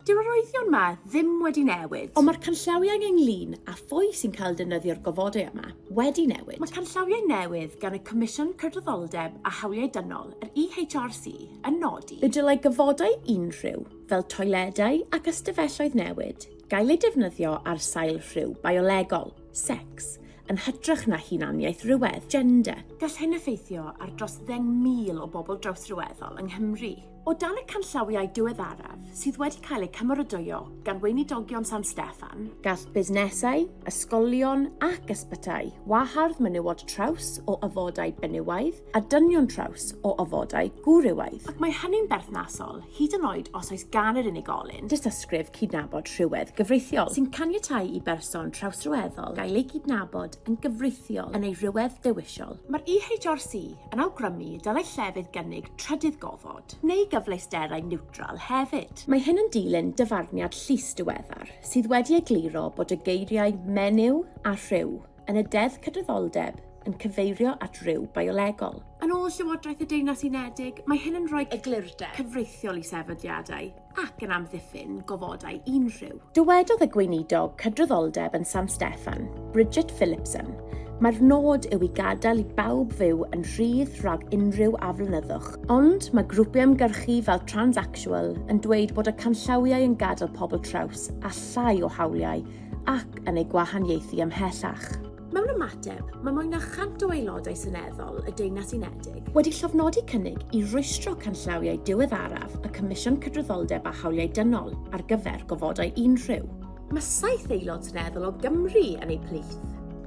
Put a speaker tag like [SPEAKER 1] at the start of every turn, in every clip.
[SPEAKER 1] Dyw arwyddion 'ma ddim wedi newid. Ond mae'r canllawiau
[SPEAKER 2] ynglŷn â phwy sy'n cael defnyddio'r gofodau yma wedi newid. Mae canllawiau newydd
[SPEAKER 1] gan y Comisiwn Cydraddoldeb a Hawliau Dynol, yr EHRC, yn nodi. Y dylai gofodau
[SPEAKER 2] unrhyw, fel toiledau ac ystafelloedd newid, gael eu defnyddio ar sail rhyw biolegol, secs, yn hytrach na hunaniaeth rhywedd, gender. Gall hyn effeithio
[SPEAKER 1] ar dros ddeng mil o bobl drawsryweddol yng Nghymru. O dan y canllawiau diweddaraf sydd wedi cael eu cymeradwyo gan Weinidogion San Steffan, gall busnesau,
[SPEAKER 2] ysgolion ac ysbytai wahardd menywod traws o ofodau benywaidd a dynion traws o ofodau gwrywaidd, ac mae hynny'n
[SPEAKER 1] berthnasol hyd yn oed os oes gan yr unigolyn dystysgrif cydnabod
[SPEAKER 2] rhywedd gyfreithiol sy'n caniatáu i
[SPEAKER 1] berson trawsryweddol gael ei gydnabod yn gyfreithiol yn ei rywedd
[SPEAKER 2] dewisol. Mae'r EHRC
[SPEAKER 1] yn awgrymu y dylai llefydd gynnig trydydd gofod neu gyfleusterau niwtral hefyd. Mae hyn yn dilyn
[SPEAKER 2] dyfarniad llys diweddar sydd wedi egluro bod y geiriau 'menyw' a 'rhyw' yn y Deddf Cydraddoldeb yn cyfeirio at ryw biolegol. Yn ôl Llywodraeth
[SPEAKER 1] y Deyrnas Unedig, mae hyn yn rhoi eglurder cyfreithiol i sefydliadau. ac yn amddiffyn gofodau unrhyw. Dywedodd y Gweinidog
[SPEAKER 2] Cydraddoldeb yn San Steffan, Bridget Phillipson, Mae'r nod yw i gadael i bawb fyw yn rhydd rhag unrhyw aflonyddwch. Ond mae grwpiau ymgyrchu fel Transactual yn dweud bod y canllawiau yn gadael pobl traws â llai o hawliau ac yn eu gwahaniaethu ymhellach. Mewn ymateb,
[SPEAKER 1] mae mwy na 100 o aelodau seneddol y Deyrnas Unedig wedi llofnodi cynnig
[SPEAKER 2] i rwystro canllawiau diweddaraf y Comisiwn Cydraddoldeb a Hawliau Dynol ar gyfer gofodau unrhyw. Mae saith
[SPEAKER 1] aelod seneddol o Gymru yn eu plith.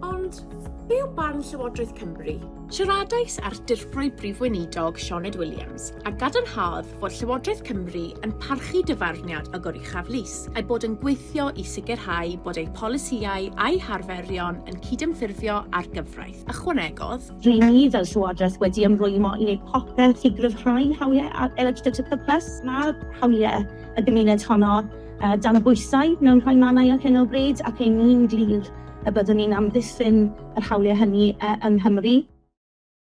[SPEAKER 1] Ond, be yw barn Llywodraeth Cymru? Siaradais â'r Dirprwy Brif Weinidog Sioned Williams a gadarnhaodd fod Llywodraeth Cymru yn parchu dyfarniad y Goruchaf Lys, a'i bod yn gweithio i sicrhau bod ei pholisïau a'i harferion yn cydymffurfio â'r gyfraith. Ychwanegodd. Rŷn ni fel
[SPEAKER 3] Llywodraeth wedi ymrwymo i wneud popeth i gryfhau hawliau LHDTC plus. Mae hawliau y gymuned honno dan y bwysau mewn rhai mannau ar hyn o bryd ac ein ni'n glir y byddwn ni'n amddiffyn yr hawliau hynny yng Nghymru.